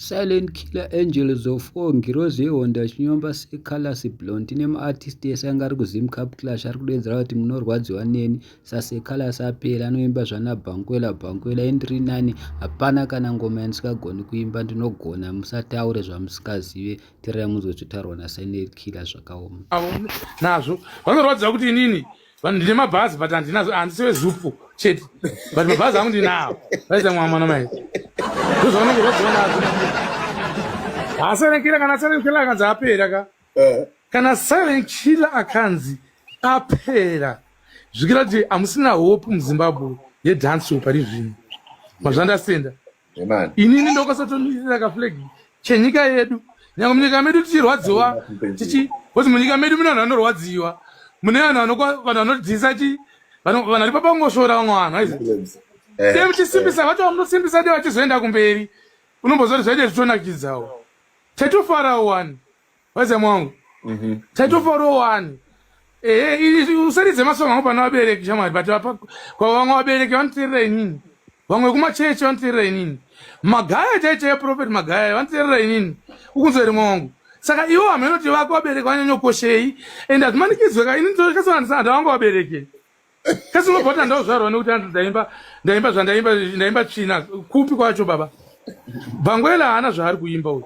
Silent Killer Angels of Four ngirozi yehondo achinyomba seColors Blond tine maartist ese anga ari kuZim Cup Clash ari kudeedzera kuti munorwadziwa neni saseColors apera anoimba zvana Bankwela Bankwela indiri nani hapana kana ngoma yandisikagoni kuimba ndinogona musataure zvamusikazive tirai munzwe zvotaurwa naSilent Killer zvakaoma nazvo vanorwadziwa kuti inini vanhu ndine mabhazi but handinazo handisi wezupu chete but mabhazi angu ndinawo vaita mwa mwana mai ndozvaunenge zvadzionazo ha silent killer kana silent killer akanzi apera ka eh. kana silent killer akanzi apera zvikira kuti hamusina hope muzimbabwe yedance pari zvino mazvandasenda inini ndokasotomirira kaflag chenyika yedu nyangwe munyika medu tichirwadziwa tichi kuti munyika medu mune vanhu vanorwadziwa mune vanhu vanokwa vanhu vanodhisa chi vanhu vari papangosvora vamwe vanhu aizi eh, same tisimbisa eh. vacho vamunosimbisa de vachizoenda kumberi unombozoti zvaite zvitonakidzawo tatofara wani Waze mwangu. Mhm. Mm Taitofaro wani. Eh, eh usaridze masongo angu pana vabereki shamwari but apa kwa vamwe vabereki vanoteerera inini. Vamwe kuma church vanoteerera inini. Magaya chaicha ya prophet magaya vanoteerera inini. Ukunzwa rimwe wangu. Saka iwo ameno tivako vabereki vanyanyokoshei and azvimanikidzwe ka inini ndosvika sana ndisana ndavangu vabereki. kasi unobva kuti andauzvarwa nekuti anzi ndaimba ndaimba zvandaimba ndaimba tsvina kupi kwacho baba bangwela haana zvaari kuimba uyu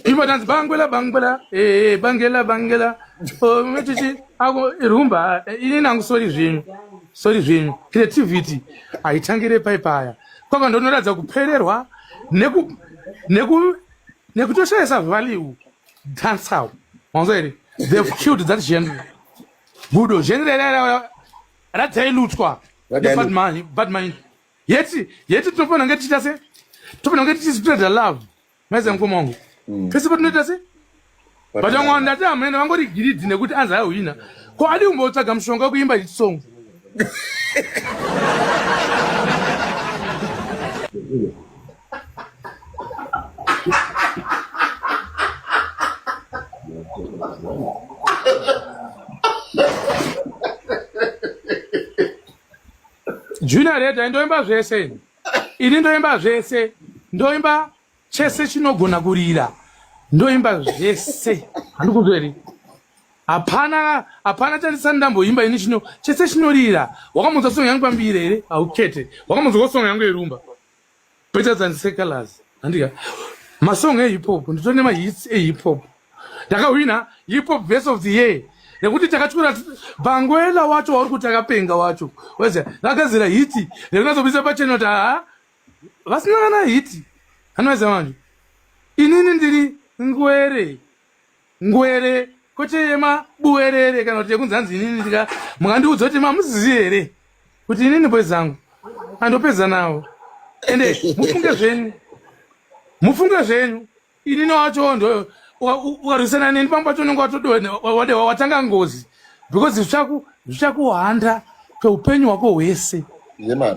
imba tanzi bangwela bangwela ee bangela bangela metichi ako rumba ini nangu sori zvenyu sori zvenyu creativity haitangire pai paya kwaka ndonoratidza kupererwa neku neku nekutoshayisa value dancehall manzwa here they've killed that genre gudo zvenzereradzailutswa badman yeti yeti tinofanira kunge tichiita se tinofanira kunge tichizvitoedza love maiza mukoma wangu mm. pese patinoita se but vamwe vanhu ndati hamene vangori giridhi nekuti anzi aihwina ko adi kumbotsvaga mushonga wekuimba hit song junior reda ndoimba zvese ini ndoimba zvese ndoimba chese chinogona kurira ndoimba zvese handikuzveri hapana hapana chandisani ndamboimba ini chino chese chinorira wakamunzwa songo yangu pambiri here haukete wakamunzwa kosongo yangu yerumba Better than secular's. Handika. Masong e hip hop. Ndito nema hits e hip hop. Daka wina hip hop best of the year. Nekuti takachukura bangwela wacho wauri kuti akapenga wacho. Weze. Daka zira hiti. Nekuna zobisa pa channel ta. Vasina kana hiti. Hanweza manje. Inini ndiri ngwere. Ngwere kwete yema buwerere kana kuti yekunzi hanzi inini ndika mukandiudza kuti mamuzizi here kuti inini boys zangu andopedza nawo ende mufunge zvenyu mufunge zvenyu inini wacho ndo ukarwisana neni pamba pacho unenge watode watanga ngozi because zvichakuhanda kweupenyu hwako hwese yeah,